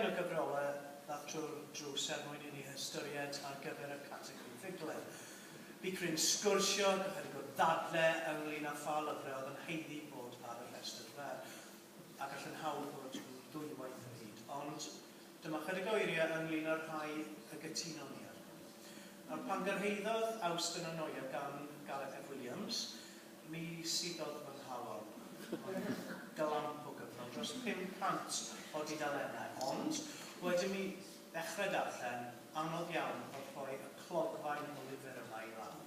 Ceir y gyfrolau ddato'r drws er mwyn i ni ystyried ar gyfer y categori ffuglen. Bu cryn sgwrsio ac ychydig o ddadle ynglŷn â pha lyfrau oedd yn haeddu bod ar y rhestr fer, a gall yn hawdd ddod yn ddwywaith o hyd. Ond dyma ychydig o eiriau ynglŷn â'r rhai y gytunon ni arnyn nhw. Nawr, pan gyrhaeddodd Awst yn Anoia gan Gareth F Williams, Mi suddodd fy nghalon yn glamp o gyfnod dros 500 o dudalennau, ond wedyn mi ddechrau darllen, anodd iawn oedd rhoi y clogfaen o lyfr yma i lawr.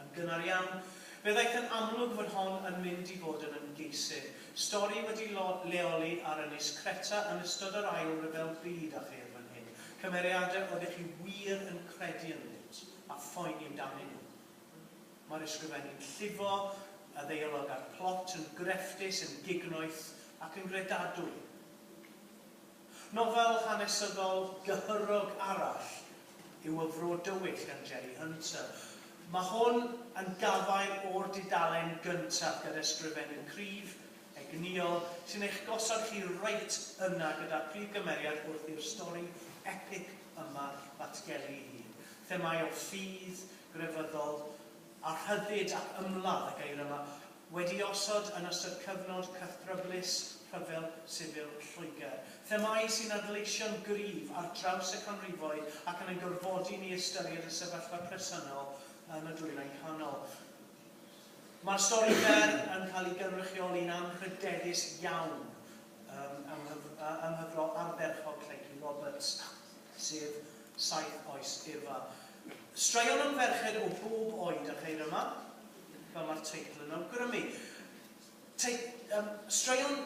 Yn gynnar iawn, fe ddaeth yn amlwg fod hon yn mynd i fod yn ymgeisydd, stori wedi leoli ar Ynys Creta yn ystod yr Ail Ryfel Byd a cher fan hyn, cymeriadau oeddech chi wir yn credu ynddynt a phoeni amdanyn nhw. Mae'r ysgrifenny'n llifo, y ddeialog a'r plot yn grefftus, yn gignoeth ac yn gredadwy. Nofel hanesyddol gyhyrog arall yw Y Fro Dywyll gan Jerry Hunter. Mae hwn yn gafael o'r dudalen gyntaf gan ysgrifennu cryf, egnïol, sy'n eich gosod chi reit yna gyda'r prif gymeriad wrth i'r stori epig yma ddatgelu ei hun. Themâu o ffydd, grefyddol a rhyddid ac ymladd y geir yma, wedi'i osod yn ystod cyfnod cythryblus rhyfel sifil Lloegr. Themâu sy'n adleisio'n gryf ar draws y canrifoedd ac yn ein gorfodi ni i ystyried y sefyllfa presennol yn y Dwyrain Canol. Mae'r stori fer yn cael ei gynrychioli'n anrhydeddus iawn ym mhyfrod ardderchog Lleucu Roberts. sef Saith Oes Eva. Straeon am ferched o bob oed a cheir yma, fel mae'r teitl yn awgrymu. Tei- yym, straeon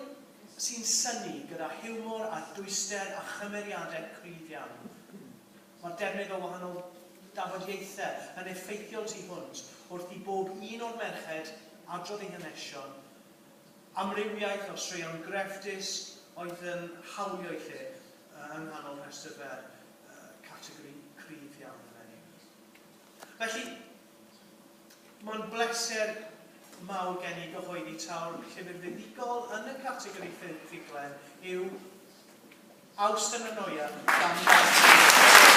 sy'n synnu gyda hiwmor a dwyster a chymeriadau cryf iawn. Mae'r defnydd o wahanol dafodiaethau yn effeithiol tu hwnt wrth i bob un o'r merched adrodd eu hanesion, amrywiaeth o straeon grefftus oedd yn hawlio'u lle, yng nghanol rhestr fer, categori cryf iawn eleni. Felly, mae'n bleser mawr gen i gyhoeddi taw'r llyfr fuddugol yn y categori ffuglen yw Awst yn y Noia gan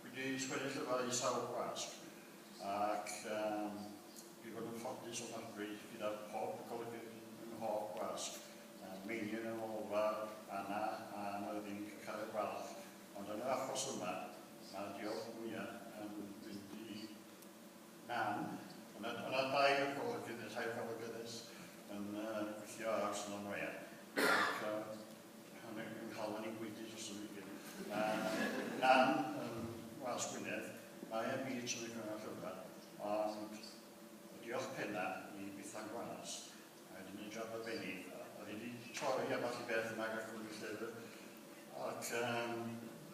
Dwi 'di sgwennu llyfr i sawl gwasg ac yym dwi 'di bod yn ffodus ofnadwy gyda pob golygfeydd ym mhob gwasg, yy Meinion yn ôl fa, Anna a Myrddin Cyckaredd Gwalch, ond yn yr achos yma mae'r diolch mwya' yn mynd i Nan, o' 'na o' 'na dair golygfeydd ne' tair golygfeydd yn yy gweithio ar Ystlum Oea ac yy Mae'n cael fy ni'n dros y weekend. Mae Nan yn Wales Gwynedd, mae e'n Beach yn y Cyngor Llyfrau, ond y diolch penna i Bethan Gwanas, mae 'di neud job arbennig, oedd hi 'di torri ambell i beth yma gan Cwmni Llyfr, ac yym